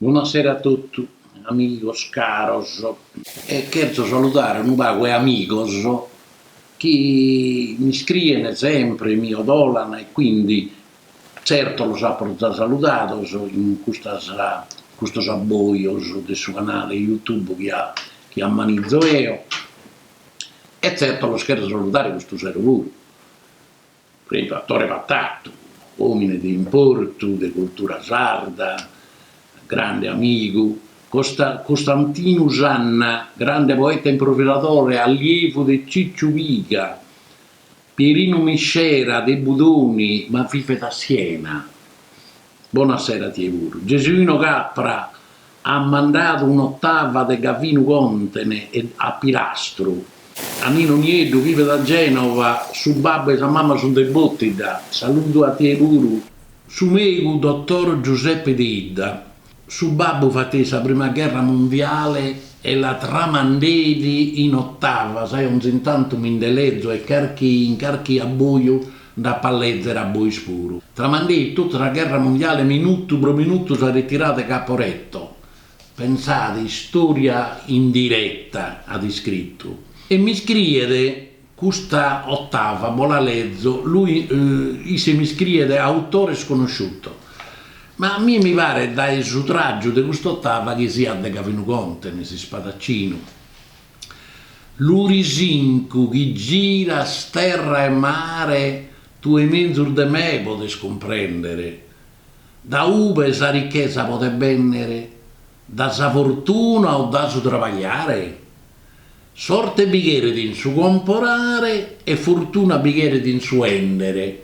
Bona sera a totu, amigos caros. E cherzo saludare unu pagu 'e amigos chi mi scriene sempre, mi 'odolana e quindi zerto los apo za saludados in custas in custos abboios de su canale YouTube chi a chi ammanizo eo e zerto los cherzo saludare custu sero puru. Tatore Patatu, òmine de importu de cultura sarda, grande amigu. Costantinu Sanna, grande poeta e improvisadore, allievu de Cicciu Piga. Pierinu Miscera de Budoni, ma vivet in Siena. Bona sera a tie puru. Gesuino Capra at mandadu un'otava de Gavinu Contene e a Pirastru, a Ninu Nieddu bivet a Genova, su babbu e sa mama sunt de Botidda, saludu a tie puru. Su megu dottor Giuseppe Deidda, su babbu fateit sa prima gherra mundiale e la tramandeit in otava, gai onzi tantu mi nde lezo carchi in carchi abboju Nd'apo a lèzere a bois puru. Tramandeit totu sa gherra mundiale minutu pro minutu sa retirada de Caporetto, pensade, istòria in diretta, at iscritu. E m'iscriet custa otava, bos la lezo, lui isse m'iscriet autore sconosciuto. Ma a mie mi paret dae su tràgiu de cust'otava chi siat de Gavinu Contene, s'ispadacinu. Lurisincu, chi giras terra e mare tue menzus de me podes cumprèndere, da ube sa ricchesa podet bènnere, da sa fortuna o da su trabagliare? Sorte bi cheret in su comporare e fortuna bi cheret in su 'èndere,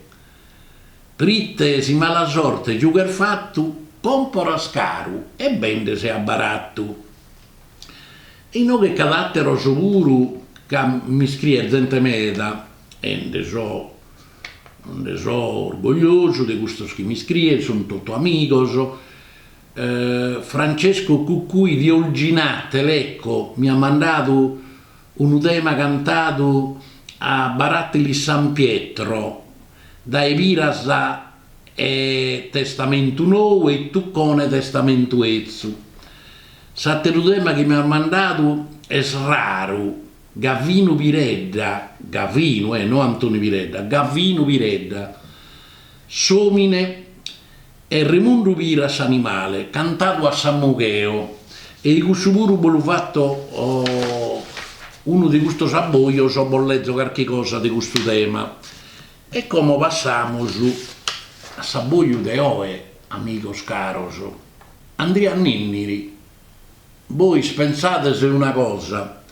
prite si mala sorte giughes fatu, comporas caru e bendes a baratu. Inoghe c'at àteros puru ca m'iscriet zente meda e nde so nde so orgogliosu de custos chi m'iscrient, sunt totu amigos. Francesco Cuccui di Olginate, Lecco, mi at mandadu unu tema cantadu a Baratili San Pietro dae Piras e testamentu nou e Tuccone testamentu etzu. S'ateru tema chi mi as mandadu est raru, Gavinu Piredda, Gavinu eh, no Antoni Piredda, Gavinu Piredda, s'omine e Remundu Piras s'animale, cantadu a Samugheo e i cussu puru bos lu fatto unu de custos abbojos o bos lezo carchi cosa de custu tema. E como passamus a s'abboju de oe, amigos caros? Andria Ninniri, Bois pensades una cosa,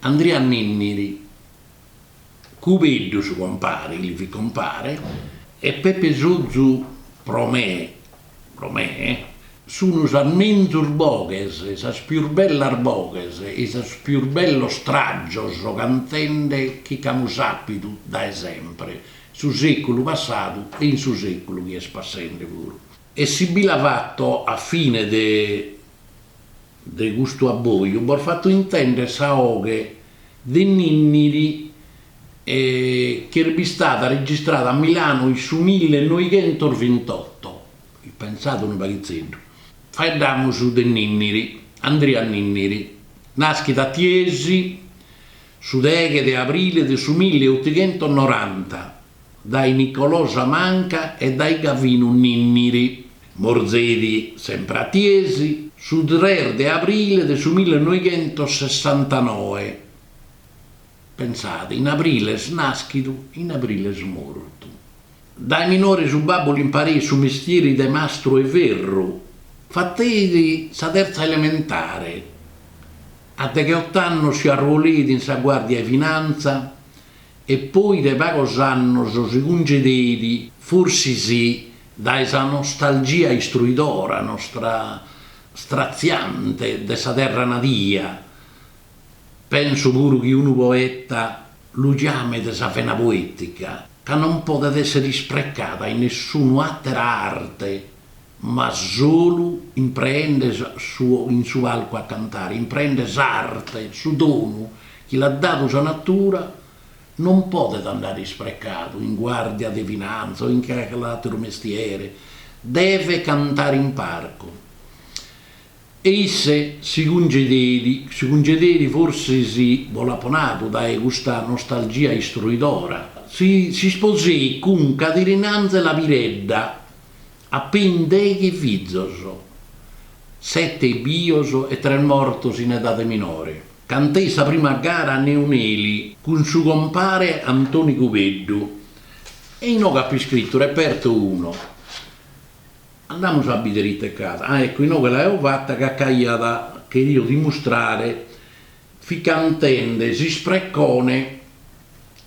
Andria Ninniri, Cubeddu su compare, li fit compare, e Pepe Sozu pro me, pro me, sun sas menzus boghes, sas pius bellas boghes e i sos pius bellos trajos cantende chi ch'amus àpidu dae sempre, su seculu passadu e in su seculu chi est passende puru. E si bi la fatto a fine de. De custu abboju bos fatto intender sa 'oghe de Ninniri ch'est bistada registrada a Milano in su mille noighentos vintotto. Pensade unu paghizeddu. Faeddamus de Ninniri. Andria Ninniri naschit a Tiesi su deghe de abrile de su mille otighentos noranta. dae Nicolosa Manca e dae Gavinu Ninniri, morzeit sempre a Tiesi, su tres de abrile de su millenoighentossessantanoe. Pensade, in abrile est nàschidu, in abrile est mortu. Dae minore su babbu l'impareit su mestieri de mastru 'e ferru. Fateit sa terza elementare. A degheot'annos si arruoleit in sa Guàrdia 'e Finanza e poi de pagos annos si cungedeit, forsis dae sa nostalgia istruidora nostra stratziante de sa terra nadia, penso puru chi unu poeta lu ciamet sa vena poetica, ca non podet esser isprecada in nessunu àtera arte. ma solu impreende in su palcu a cantare, impreende s'arte, su donu chi l'at dadu sa natura, non podet andare isprecadu in guàrdia de finanza o in cale àteru mestiere, devet cantare in parcu. E isse si cungedeit, si cungedeit forsis, bos l'apo nadu, dae custa nostalgia istruidora, s'isposeit cun Cadirinànzela Piredda, apein deghi fizos, sete bios e tres mortos in edade minore, canteit sa prima gara a Neoneli cun su compare Antoni Cubeddu, e inoghe apo iscritu, reperto uno. Andamus a bidere ite ch'at. Ah ecco inoghe l'aeo fata ca ch'aiat cheridu dimustrare fit cantende, s'isprecone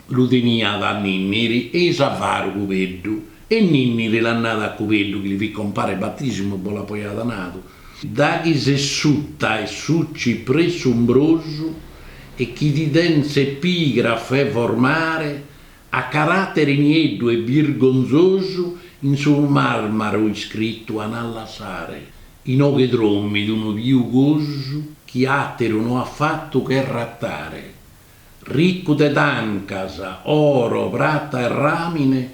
lu teniat Ninniri e i s'avaru Cubeddu e Ninniri l'at nadu a Cubeddu chi li fit compare 'e batisimu bos l'apo ja nadu da chi ses suta 'e su cipressu umbrosu e chi ti den s'epigrafe formare A caràteri nieddu e birgonzosu in su marmaru iscritu an a lassare inoghe drommit unu piugosu chi àteru no at fatu che ratare. Ricu de tancas, oro, prata e ràmine,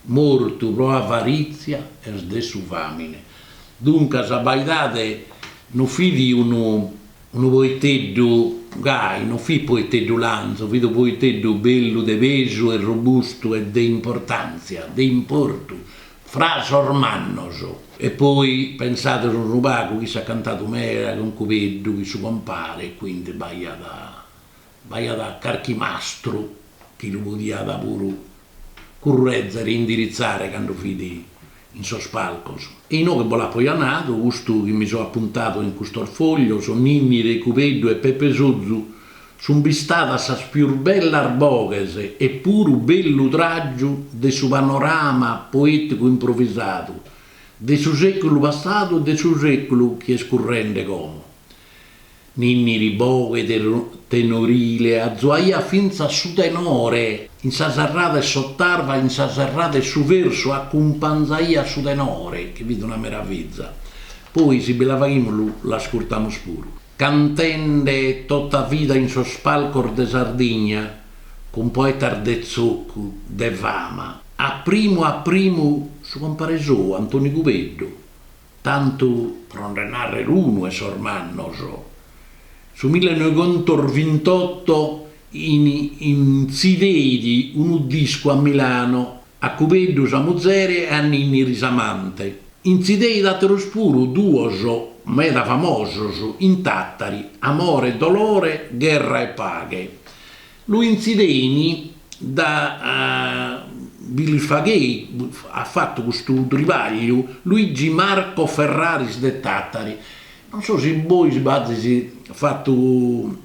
mortu pro avarìtzia est de su fàmine. Duncas, abbaidade no fit unu Unu poeteddu gai, no fit poeteddu lanzu, fit unu poeteddu bellu de pesu e robustu e de importàntzia, de importu, fra sos mannos. E poi pensades unu pagu chi s'at cantadu meda cun Cubeddu, chi su compare, quindi, b'aiat. B'aiat carchi mastru chi lu podiat puru currèzere e indiritzare cando fit in sos palcos. E inoghe bos l'apo ja nadu, custu chi mi so apuntadu in custos foglios, Ninniri, Cubeddu e Pepe Sozu, sun bistadas sas pius bellas boghes e puru bellu tràgiu de su panorama poèticu improvisadu de su sèculu passadu e de su sèculu chi est currende como. Ninniri boghe tenorile azuaiat fintzas su tenore, in sa serrada 'e s'otava, in sa serrada 'e su versu acumpanzaiat su tenore, chi fit una meraviza. Poi si bi la faghimus lu l'ascurtamus puru. Cantende tota vida in sos palcos de Sardigna cun poetas de tzocu, de fama. A primu a primu su compare sou, Antoni Cubeddu, Tantu pro nde nàrrere unu 'e sos mannos, su millenoighentosvintotto intzideit unu discu a Milano a Cubeddu sa muzere e a Ninniri s'amante. Intzideit àteros puru duos meda famosos in Tàtari, Amore e dolore, gherra e paghe. Lu intzidein da, bi li faghei, at fatu custu tribagliu Luigi Marco Ferraris de Tàtari. Non so si bois b'azis fatu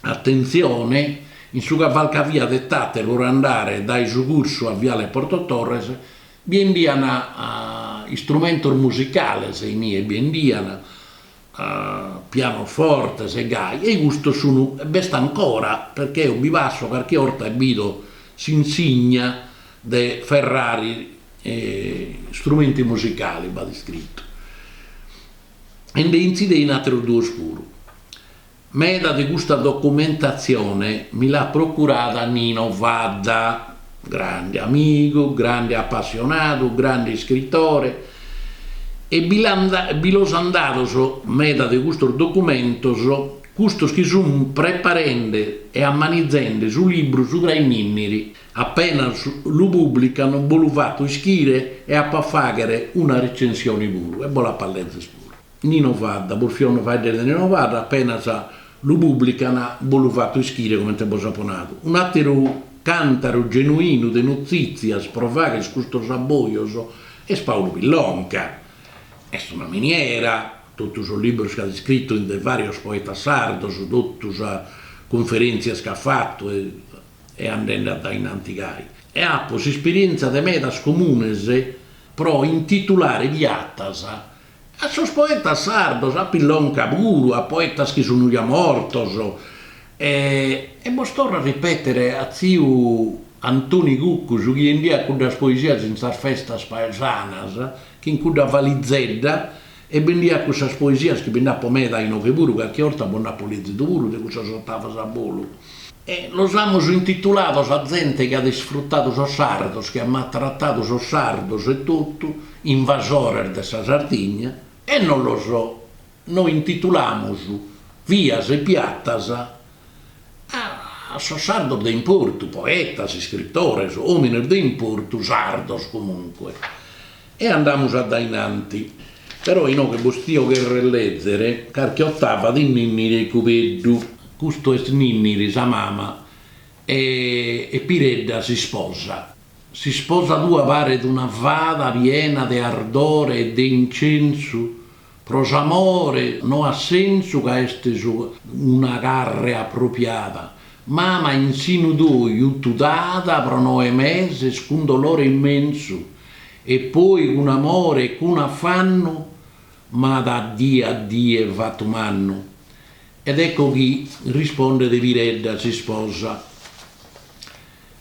atentzione, in su cavalcavia de Tàtari pro andare dae su cursu a Viale Porto Torres bi 'endian istrumentos musicales, inie bi 'endian, a pianofortes e gai, e custos sun e b'est ancora, perchè eo bi passo carchi 'orta e bido s'insigna de Ferraris Strumenti Musicali b'at iscritu, e nde intzidein àteros duos puru. Meda de custa documentatzione mi l'at procurada Nino Fadda, grande amigu, grande apassionadu, grande iscritore, e bi bi los an dados meda de custos documentos custos chi sun preparende e ammanizende su libru subra 'e Ninniri, apenas lu publican bo lu fatto ischire e apo a faghere una recensione puru e bo l'apo a lezer puru. Nino Fadda, bos fia faeddende de Nino Fadda, apenas lu pùblican bos lu fato ischire comente bos apo nadu. Un'àteru càntaru genuinu de notzìtzias pro faghere custos abbojos est Paulu Pillonca. Est una miniera, totu sos libros chi at iscritu in de vàrios poetas sardos, totu sas cunferèntzias chi at fatu e e andende addainanti gai. E apo s'isperièntzia de medas comunes pro intitulare piatas A sos poetas sardos, a Pillonca puru, a poetas chi sunu ja mortos, e e bos torro a ripetere a tziu Antoni Cuccu su chi 'endiat cuddas poesias in sas festas paesanas, chin cudda valizedda, e bendiat cussas poesias chi bi nd'apo meda inoghe puru, carchi 'orta bos nd'apo lezidu puru de cussas ottavas a bolu. E los amus intitulados a zente chi at isfrutadu sos sardos, chi at maltratadu sos sardos etotu, invasores de sa Sardigna, e non los no intitulamus vias e piatas a sos sardos de importu, poetas, iscritores, omines de importu, sardos comunque. E andamus addainanti. Però inoghe bos tio cherrer lezere carchi ottava de Ninniri e Cubeddu. Custu est Ninniri, sa mama, e e Piredda s'isposa. S'isposa tua paret una fada piena de ardore e de incensu Pro s'amore no at sensu ca est una carre apropiada, mama in sinu tui juttu t'ada pro noe meses cun dolore immensu e poi cun amore e cun affannu m'at a die a die fattu mannu. Ed ecco chi rispondet Piredda s'isposa.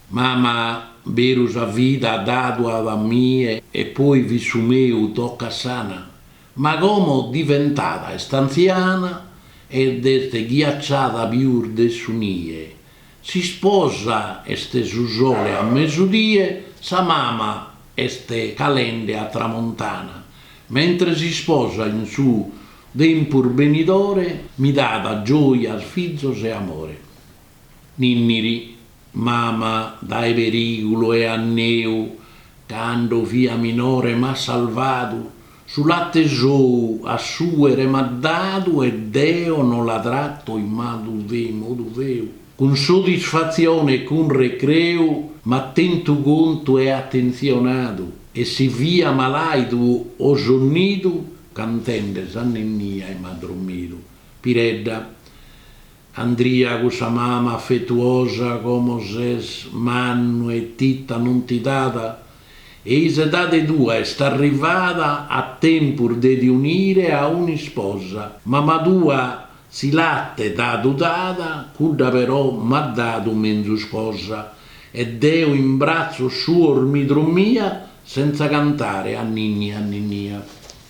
Mama beru sa vida dadu at a mie e poi fit su meu toccasana ma como diventada est antziana ed est ghiacciada pius de su nie s'isposa est su sole a mesudie sa mama est calende a tramontana mentre s'isposa in su tempus benidore mi dat gioias fizos e amore. Ninniri, Mama dae perigulu e anneu, cando fia minore m'at salvadu, su latte sou a suere m'at dadu e deo no la tratto in malu e in modu feu. Cun sodisfatzione e cun recreu m'at tentu contu e attentzionadu e si fia malaidu o sonnidu, cantende sa nennia m'at drommidu. Piredda, Andria cussa mama afetuosa como ses mannu e tita non ti dat e i s'edade tua est arrivada a tempus de ti unire a un'isposa. Mama tua su latte t'at dadu, dada, cudda però m'at dadu menzus cosa e deo in bratzos suos mi drommia senza cantare anninnia anninnia.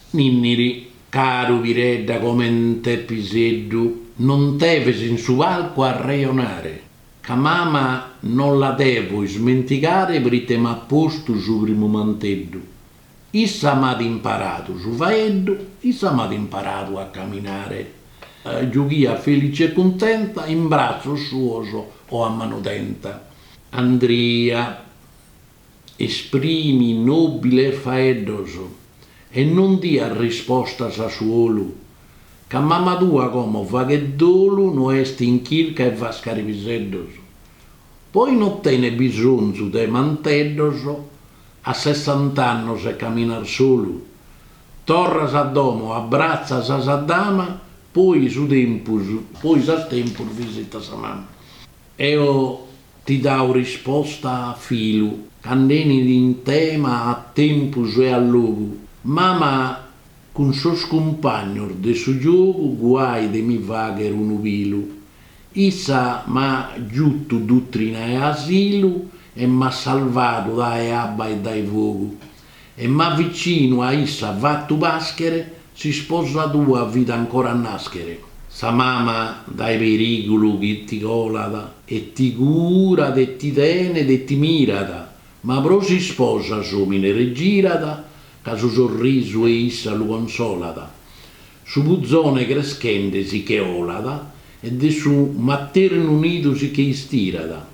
Ninniri. Caru Piredda comente piseddu, non deves in su palcu arrejonare, ca mama non la devo ismentigare prite m'at postu su primu manteddu. Issa m'at imparadu su faeddu, issa m'at imparadu a caminare. Giughiat felice e cuntenta in bratzos suos o a manu tenta. Andria. Esprimi nòbiles faeddos e non dias rispostas a su 'olu, ca mama tua como faghet dolu no est in chirca 'e fascare piseddos. Poi no tenes bisonzu de manteddos a sessant'annos e caminas solu. Torras a domo abbratzas sa dama poi su tempus poi s'as tempus visitas sa mama. Eo ti dau risposta a filu, ca nd'enit in tema a tempus e a logu, mama cun sos cumpagnos de su giogu guai de mi fagher unu pilu. Issa m'at giutu a dutrina e asilu e m'at salvadu dae abba e dae fogu. E m'at vicinu a issa fattu paschere, s'isposa tua fit ancora a naschere. Sa mama dae perigulu chi ti colat, e ti curat e ti tenet e ti mirat, ma pro s'isposa s'omine regirat, ca su sorrisu 'e issa lu consolat. Su puzone creschende si che olat, e de su matternu nidu si che istirat,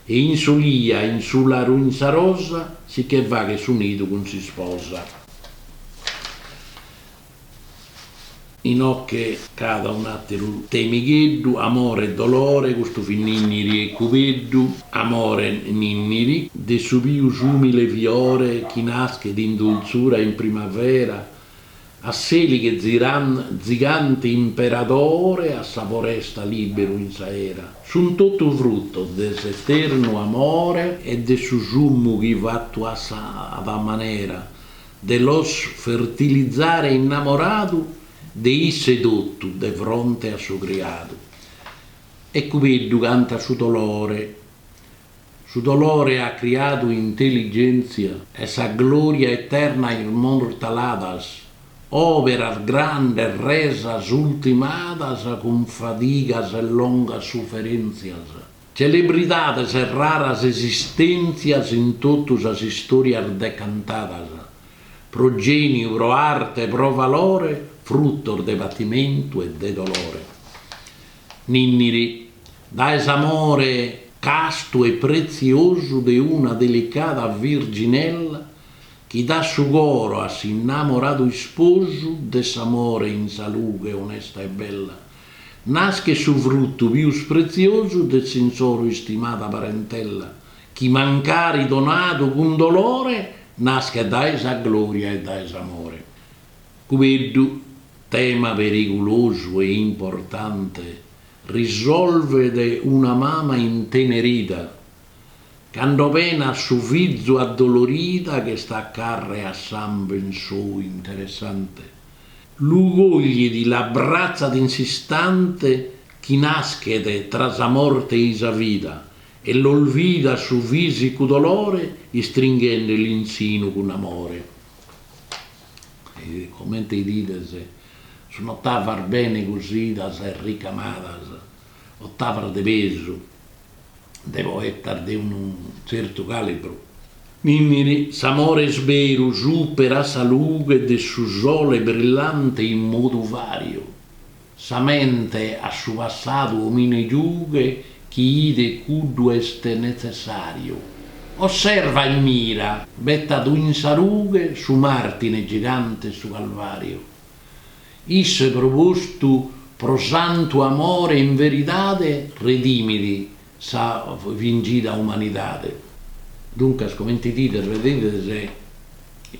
E in s'olia, in su laru in sa rosa, si che faghet su nidu cun s'isposa. Inoche ch'at un'àteru temigheddu, amore e dolore, custu fit Ninniri e Cubeddu, amore Ninniri, de su pius ùmile fiore chi naschet in dultzura in primavera, A s'elighe Ziran, zigante imperadore a sa foresta liberu in s'aera, sun totu frutos de s'eternu amore e de su sumu chi fatu a sa ada manera de los fertilizare innamoradu de isse totu de fronte a su criadu. E Cubeddu cantat su dolore Su dolore at criadu intelligèntzia e sa glòria eterna immortaladas, òberas grandes resas ultimadas cun fadigas e longas suferèntzias, celebridades e raras esistèntzias in totu sas istòrias decantadas, pro gèniu, pro arte e pro valore, frutos de patimentu e de dolore. Nìnniri. Dae s'amore castu e pretziosu de una delicada virginella chi dat su coro a s'innamoradu isposu de s'amore in sa lughe onesta e bella, naschet su fruttu pius pretziosu de s'insoro istimada parentella, chi mancari donadu cun dolore naschet dae sa gloria e dae s'amore. Cubeddu, tema perigulosu e importante Risolvet una mama intenerida cando penat su fizu addolorida chi est a carre e sàmben sou interessante, lu coglit e l'abbratzat in s'istante chi naschet tra sa morte e sa vida e l'olvidat su fisicu dolore istringhende l'in sinu cun amore. Comente 'idides, sun otavas bene cosidas e ricamadas, otavas de pesu, de poetas de unu tzertu calibru. Nìnniri, s'amore est beru, superat sa lughe de su sole brillante in modu vàriu, Sa mente a su passadu omine giughe chi 'ider cuddu est netzessàriu, osserva e mira, betadu in sa rughe su Màrtire gigante 'e su Calvàriu. Isse pro custu, pro santu amore in veridade redimit S'afligida umanidade, duncas, comente 'idides, bidides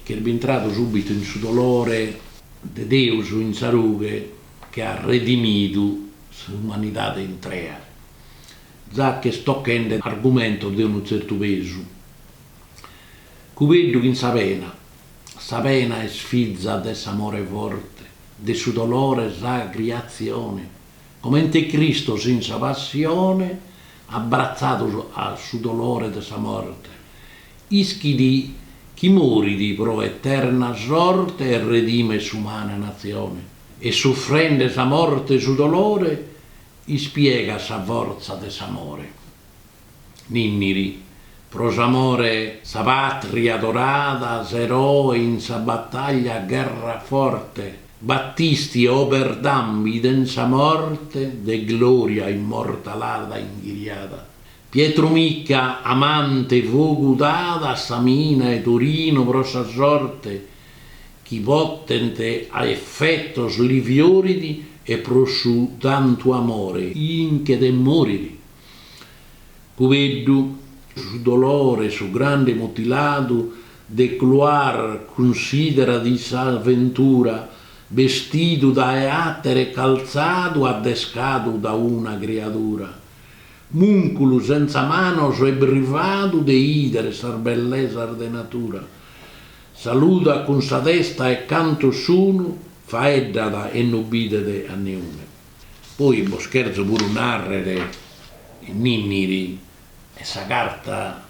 chi est bintradu subitu in su dolore de Deus in sa rughe chi at redimidu s'umanidade intrea, già ch'est tochende argumentos de unu tzertu pesu, Cubeddu chin sa pena, sa pena est fiza de s'amore forte, de su dolore sa criatzione. Comente Cristos in sa Passione, abratzadu a su dolore de sa morte, ischit chi morit pro eterna sorte e redimet s'umana natzione, e suffrende sa morte e su dolore, ispiegat sa fortza de s'amore. Ninniri, pro s'amore 'e sa patria adorada, s'eroe in sa battaglia gherrat forte, Battisti Oberdan biden sa morte de gloria immortalada inghiriada, Pietru Micca amante fogu dada a sa mina 'e Torino pro sa sorte chi potente a effettos li fioridi e pro su tantu amore inchet e moridi, Cubeddu, su dolore 'e su grande mutiladu Delcroix cunsidera disaventura bestidu dae atere calzadu addescadu da una criadura, munculu senza manos e brivadu de idere sas bellesas de natura, saludat cun sa testa e cantos sunu faeddat e no bidet a niune. Poi bos cherzo puru narrere, Ninniri est sa carta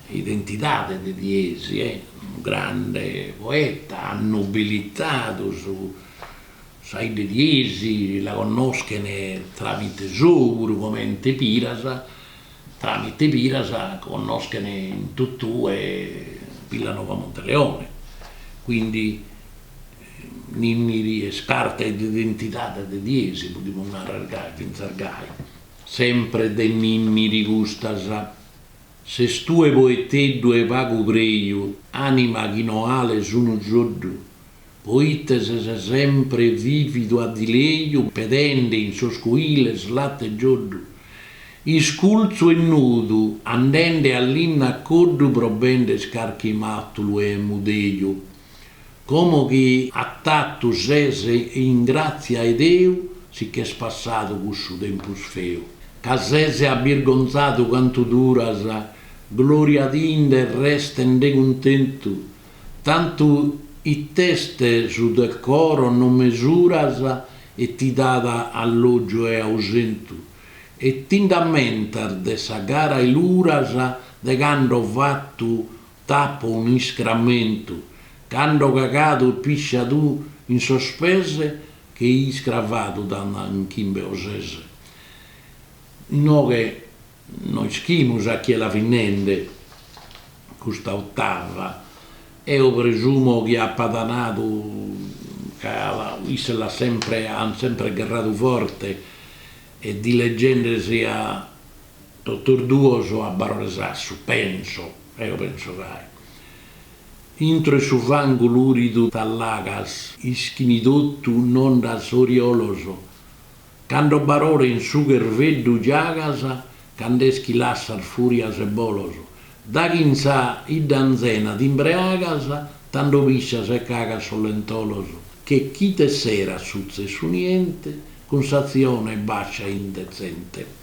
'e identidade de Tiesi, est unu grande poeta, at nobilitadu sa idda 'e Tiesi, la connoschene tramite sou puru comente Piras, tramite Piras connoschene in totue Villanova Monteleone, quindi. Ninniri est carta 'e d'identidade de Tiesi, podimus narrer gai, fintzas gai. Sempre de Ninniri custas, Ses tue poeteddu 'e pagu preju, anima chi no ales unu soddu, poite ses sempre vividu a dileju pedende in sos coiles latte e gioddu, isculzu e nudu, andende a linna a coddu pro bender carchi matulu 'e mudeju. Como chi atatu ses in gràtzia 'e Deu si ch'est passadu cussu tempus feu, ca ses abbirgonzadu cantu duras, gloriadinde restende cuntentu, tantu it'est su decoro no mesuras e ti dat allògiu e ausentu, e t'ind'ammentas de sa gara 'e Luras de cando fatu T'apo unu iscramentu. Cando cagadu e pisciadu in sos pes che iscravadu t'ana in chimbe o ses. Inoghe no ischimus a chie la fit nende custa ottava. Eo presumo chi apat nadu ca isse l'at sempre, ant sempre gherradu forte e dileggendesi a Totus duos a Barore Sassu, penso, eo penso gai. Intro 'e su fangu luridu t'allagas. Ischini totu no nd'as oriolos. Cando Barore in su cherveddu giagas, cand'est chi lassas furias e bolos. Daghi in sa 'idda anzena t'imbreagas, tando piscias e cagas sos lentolos. Che chi t'esserat sutzessu niente, cun s'atzione bascia e indetzente.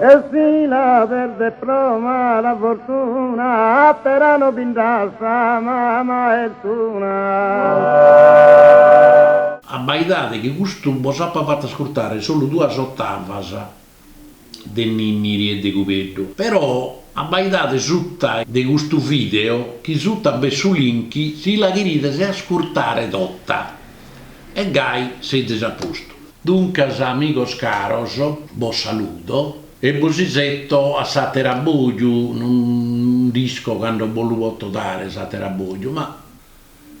Delfina perdit pro mala fortuna, àtera no bi nd'at sa mama est una. Abbaidade chi custu bos apo fatu ascurtare solu duas ottavas de Ninniri e de Cubeddu, però abbaidade suta de custu video chi suta b'est su link si la cherides ascurtare tota e gai sezis a postu. Duncas amigos caros, bos saludo e bos isetto a s'ater'aboju, non nd'isco cando bos lu poto dare s'ater'aboju, ma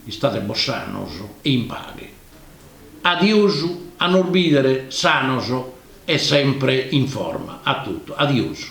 istate bos sanos e in paghe. Adiosu, a nos bidere sanos e sempre in forma. A totu. Adiosu.